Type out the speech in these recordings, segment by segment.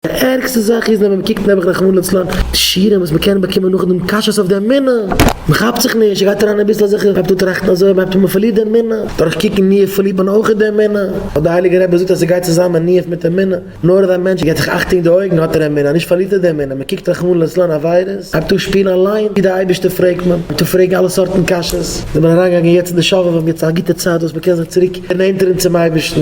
די ערגסטע זאך איז ווען מען קוקט נעבעך רחמנא לצלן די שיעורים וואס מען קען באקומען נאכדעם קשיות אויף די אמונה, מען כאפט זיך נישט, גייט אריין אביסל אזעלכע, מען הייבט אן טראכטן אזוי, מען הייבט אן מען פארלירט די אמונה, דורך קוקן ניאוף פארלירט מען אויכעט די אמונה, ווייל די הייליגע רבי זאגט אז עס גייט צוזאמען ניאוף מיט אמונה, נאר אז א מענטש געט זיך אכטונג די אויגן האט ער אמונה, נישט פארלירט ער די אמונה, מען קוקט רחמנא לצלן עבירות, הייבט אן שפירן אליין ווי די אייבערשטער פרעגט מען, הייבט אן פרעגן אלע סארטן קשיות, זענען מיר אריינגעגאנגען יעצט אין די שובבים, יעצט א גוטע צייט וואס מען קען זיך צוריק נענטערן צום אייבערשטן.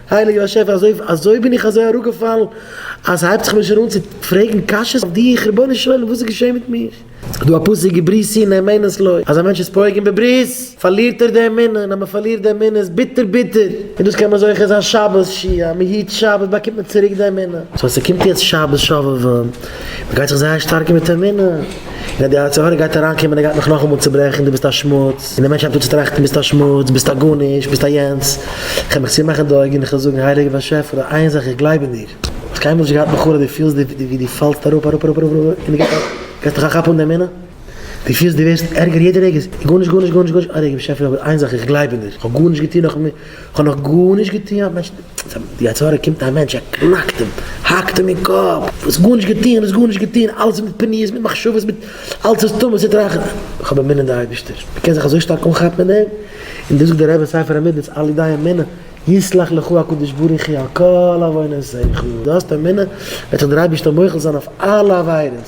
העלא יאשעפע אזוי בין איך אזוי אראפגעפאלן אז סהייבט זיך מיר שוין אן צו פרעגן קשיות אויף דיך רבונו של עולם וואס איז געשען מיט מיך? סדא א פסוק געבריס אין אמונת לוי אז א מענטש איז פוגם בברית פארלירט ער די אמונה און אז מפארלירט די אמונה איז ביטער ביטער און דאס קען מען זוכה זיין שבת ש י אז מהיט שבת באקומט מען צוריק די אמונה סאו אז סקומט יעצט שבת ש ו און מגייט זיך זייער שטארקן מיט אמונה. ווען די יצר הרע גייט אריין קומען ער גייט מיך נאכאמאל צוברעכן דו ביסט א שמוץ און די מענטש הייבט אן צו טראכטן ביסט א שמוץ ביסט א גארנישט ביסט א יענץ איך וועל מיך צומאכן די אויגן איך וועל זאגן הייליגער באשעפער און איין זאך איך גלייב אין דיר האסט קיינמאל נישט געהאט מיט חרוב דו פילסט ווי דו פאלסט אראפ אראפ אראפ אראפ אראפ און דו געבסט דיך א כאפ אן די אמונה דו פילסט דו ווערסט ערגער יעדע רגע גארנישט גארנישט גארנישט גארנישט אוי הייליגער באשעפער אבער איין זאך איך גלייב אין דיר איך האב גארנישט געטון נאכן כ'האב נאך גארנישט געטוהן האט מענטש צו די עצרת קומט א מענטש ער קנאקט אים האקט אים אין קאפ האסט גארנישט געטוהן האסט גארנישט געטוהן אלעס איז מיט פניות מיט מחשבות מיט אלעס איז טמא ס'איז טרח כ'האב אמונה די אייבישטער מ'קען זיך אזוי שטארק אנכאפן אין אים און דאס זאגט דער רבי אין ספר המידות על ידי אמונה יסלח לך הקדוש ברוך הוא על כל עווינותיך דו האסט אמונה וועט זיך דער אייבישטער מוחל זיין אויף אלע עבירות.